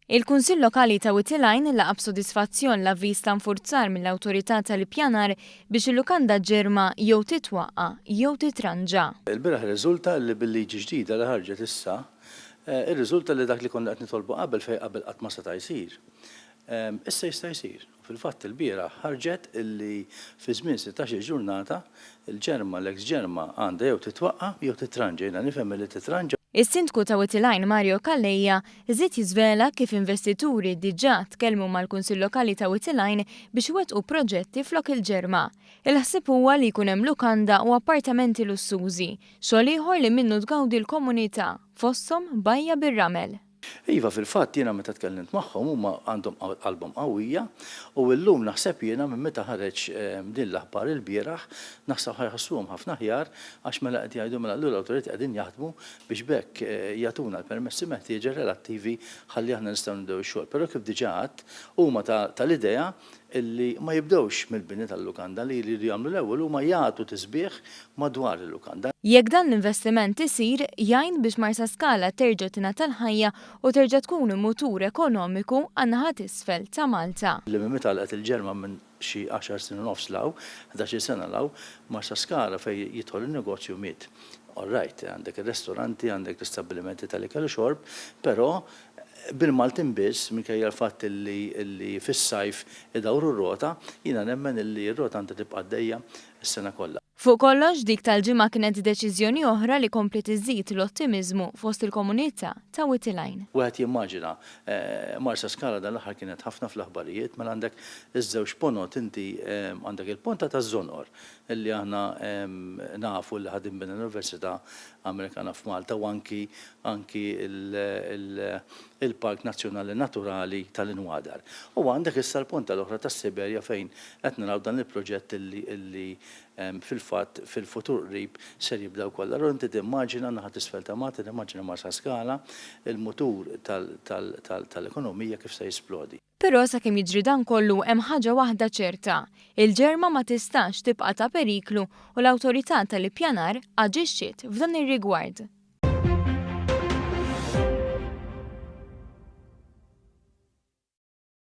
Il-Kunsill Lokali ta' Witilajn laqa' b'sodisfazzjon l-avviż ta' nfurzar mill-Awtorità tal-Ippjanar biex il-lukanda ġirma jew titwaqqa' jew titranġa. Il-bieraħ irriżulta li bil-liġi ġdida li ħarġet issa, irriżulta li dak li konna qed nitolbu qabel fejn qabel qatt ma seta' jsir, issa jista' jsir. Fil-fatt ilbieraħ ħarġet illi fi żmien sittax-il ġurnata, il-ġerma, l-eks ġerma, għandha jew titwaqqa' jew titranġa. Jiena nifhem illi titranġa. Is-Sindku ta' Wied il-Għajn Mario Calleja żied jiżvela kif investituri diġà tkellmu mal-Kunsill Lokali ta' Wied il-Għajn biex iwettqu proġetti flok il-ġerma. Il-ħsieb huwa li jkun hemm lukanda u appartamenti lussużi, xogħol ieħor li minnu tgawdi l-komunità, fosthom bajja bir-ramel. Iva, fil-fatt jiena meta tkellimt magħhom huma għandhom qalbhom qawwija u illum naħseb jiena minn meta ħareġ din l-aħbar ilbieraħ naħseb ħa jħossuhom ħafna aħjar għax mela qed jgħidu mela allura l-awtoritajiet qegħdin jaħdmu biex b'hekk jagħtuna l-permessi meħtieġa relattivi ħalli aħna nistgħu nibdew ix-xogħol. Però kif diġà għedt, huma tal-idea illi ma jibdewx mill-bini tal-lukanda li jridu jagħmlu l-ewwel huma jagħtu tisbiħ madwar il-lukanda. Jekk dan l-investiment isir, jgħin biex Marsaskala terġa' tingħata l-ħajja u terġa' tkun mutur ekonomiku għan-naħa t'isfel ta' Malta. Li minn meta għalqet il-ġerma minn xi għaxar snin u nofs 'l hawn, ħdax-il sena 'l hawn, Marsaskala fejn jidħol in-negozju miet. All right, għandek ir-restoranti, għandek l-istabbilimenti tal-ikel u xorb, però bil-Maltin biss, minkejja l-fatt li fis-sajf idawru r-rota, jiena nemmen li r-rota għandha tibqa' għaddejja s-sena kollha. Fuq kollox, dik tal-ġimgħa kienet deċiżjoni oħra li kompliet iżżid l-ottimiżmu fost il-komunità ta' Wied il-Għajn. Wieħed jimmaġina, Marsaskala dan l-aħħar kienet ħafna fl-aħbarijiet, mela għandek iż-żewġ ponot inti, għandek il-ponta taż-Żonqor li aħna nafu li ħa tinbena l-Università Amerikana f'Malta u anki anki l-Park Nazzjonali Naturali tal-Inwadar. U għandek issa l-ponta l-oħra tas-Siberja fejn qed naraw dan il-proġett li fil-fatt fil-futur qrib ser jibda wkoll. Allura inti timmaġina n-naħa t'isfel ta' Malta, timmaġina Marsaskala, il-mutur tal-ekonomija kif se jisplodi. Però sakemm jiġri dan kollu hemm ħaġa waħda ċerta, il-ġerma ma tistax tibqa' ta' periklu u l-Awtorità tal-Ippjanar aġixxiet f'dan ir-rigward.